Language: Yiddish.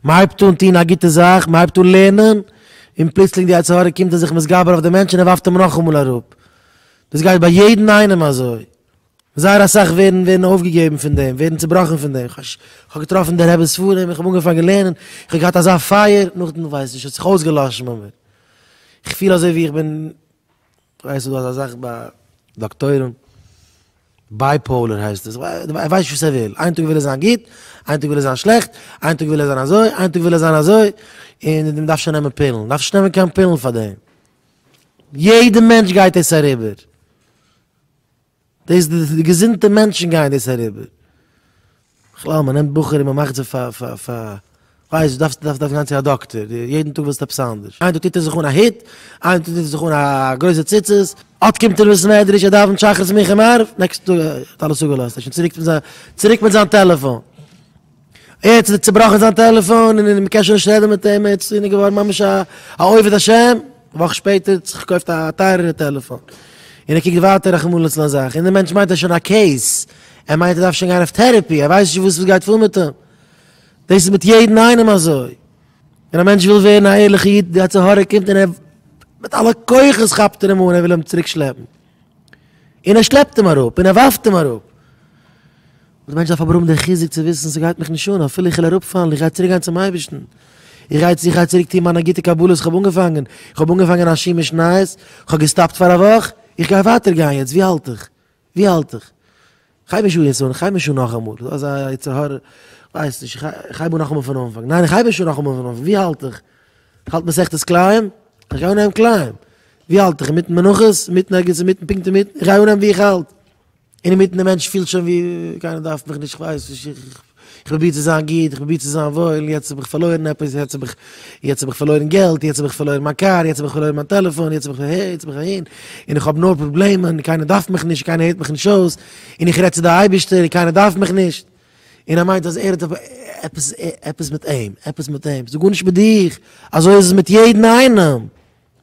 מען הייבט אן טון א גוטע זאך, מען הייבט אן לערנען, און פלוצלינג די יצר הרע קומט און זיך מתגבר אויף די מענטש און ער ווארפט אים נאכאמאל אראפ. דאס גייט ביי יעדן איינעם אזוי. זייער אסאך ווערן ווערן אויפגעגעבן פון דעם, ווערן צעבראכן פון דעם. כ'האב געטראפן די רב'ס ספרים, איך האב אנגעפאנגען לערנען, איך האב געהאט אזא פייער, נאכדעם כ'ווייס נישט, האט זיך אויסגעלאשן ביי מיר. איך פיל אזוי ווי איך בין ווייסט דו אזא זאך ביי דאקטוירים? בייפאולער הייסט עס, ער ווייסט נישט וואס ער וויל, איין טאג וויל ער זיין גוט, איין טאג וויל ער זיין שלעכט, איין טאג וויל ער זיין אזוי, איין טאג וויל ער זיין אזוי, און מען דארף שוין נעמען פילן, מען דארף נישט נעמען קיין פילן פאר דעם, יעדע מענטש גייט עס אריבער. דאס די געזונטע מענטשן גייען דאס אריבער. בכלל מען נעמט בחורים מען מאכט זיי פאר פאר פאר ווייסט דו דארפסט דארפסט גיין צו א דאקטער יעדן טאג ווילסטו עפעס אנדערש איין טאג טוט ער זיך אן א הוט איין טאג טוט ער זיך אן א גרויסע ציצית אט קומט ער אין בית מדרש ער דאווענט שחרית מנחה מעריב נעקסטע טאג האט אלעס אפגעלאזט ער איז שוין צוריק צוריק מיט זיין טעלעפאן. יעצט איז צובראכן זיין טעלעפאן און מען קען שוין נישט רעדן מיט אים, יעצט איז ער געווארן ממש א עובד השם, א וואך שפעטער האט זיך געקויפט א טייערערע טעלעפאן, און ער קוקט ווייטער רחמנא ליצלן אזאך, און דער מענטש מיינט ער האט שוין א קעיס, ער מיינט ער דארף שוין גיין אויף טערעפי, ער ווייסט נישט וואס גייט פאר מיט אים, דאס איז מיט יעדן איינעם אזוי, ווען א מענטש וויל ווערן א ערליכע איד, די יצר הרע קומט און ער מיט אלע כוחות כאפט ער אים אן, ער וויל אים צוריק שלעפן. און ער שלעפט אים אראפ, און ער ווארפט אים אראפ. דער מענטש דארף אבער האבן דעם חיזוק צו וויסן, ס'גייט מיך נישט אן, אפילו איך וועל אראפפאלן, איך גיי צוריקגיין צום אייבערשטן. איך גיי איך גיי צוריק טון מיינע גוטע קבלות איך האב אנגעפאנגען. איך האב אנגעפאנגען א שיר משניות, איך האב געסטאפט פאר א וואך, איך גיי ווייטער גיין יעצט, ווי האלט איך? ווי האלט איך? כ'הייב נישט אן יעצט און כ'הייב נישט אן נאכאמאל, ס'דא אזא יצר הרע, כ'ווייס נישט, כ'הייב אן נאכאמאל פון אנפאנג, ניין כ'הייב נישט אן נאכאמאל פון אנפאנג, ווי האלט איך? כ'האלט מסכת כלאים? כ'גיי אנהייבן כלאים, ווי האלט איך? אינמיטן מנחות? אינמיטן ערגעץ אינמיטן? פונקט אינמיטן? כ'גיי אנהייבן ווי איך האלט, אינמיטן די מענטש פילט שוין ווי קיינער דארף מיך נישט כ'ווייס נישט איך. איך פרוביר צו זיין גוט, איך פרוביר צו זיין וואויל, יעצט האב איך פארלוירן עפעס, יעצט האב איך, יעצט האב איך פארלוירן געלט, יעצט האב איך פארלוירן מיין קאר, יעצט האב איך פארלוירן מיין טעלעפאן, יעצט האב איך אהער, יעצט האב איך אהין, און איך האב נאר פראבלעמען, קיינער דארף מיך נישט, קיינער הערט מיך נישט אויס, און איך רעד צו די אייבערשטער און קיינער דארף מיך נישט, און ער מיינט אז ער האט עפעס, עפעס מיט אים, עפעס מיט אים, ס'איז גארנישט מיט דיך, אזוי איז עס מיט יעדן איינעם.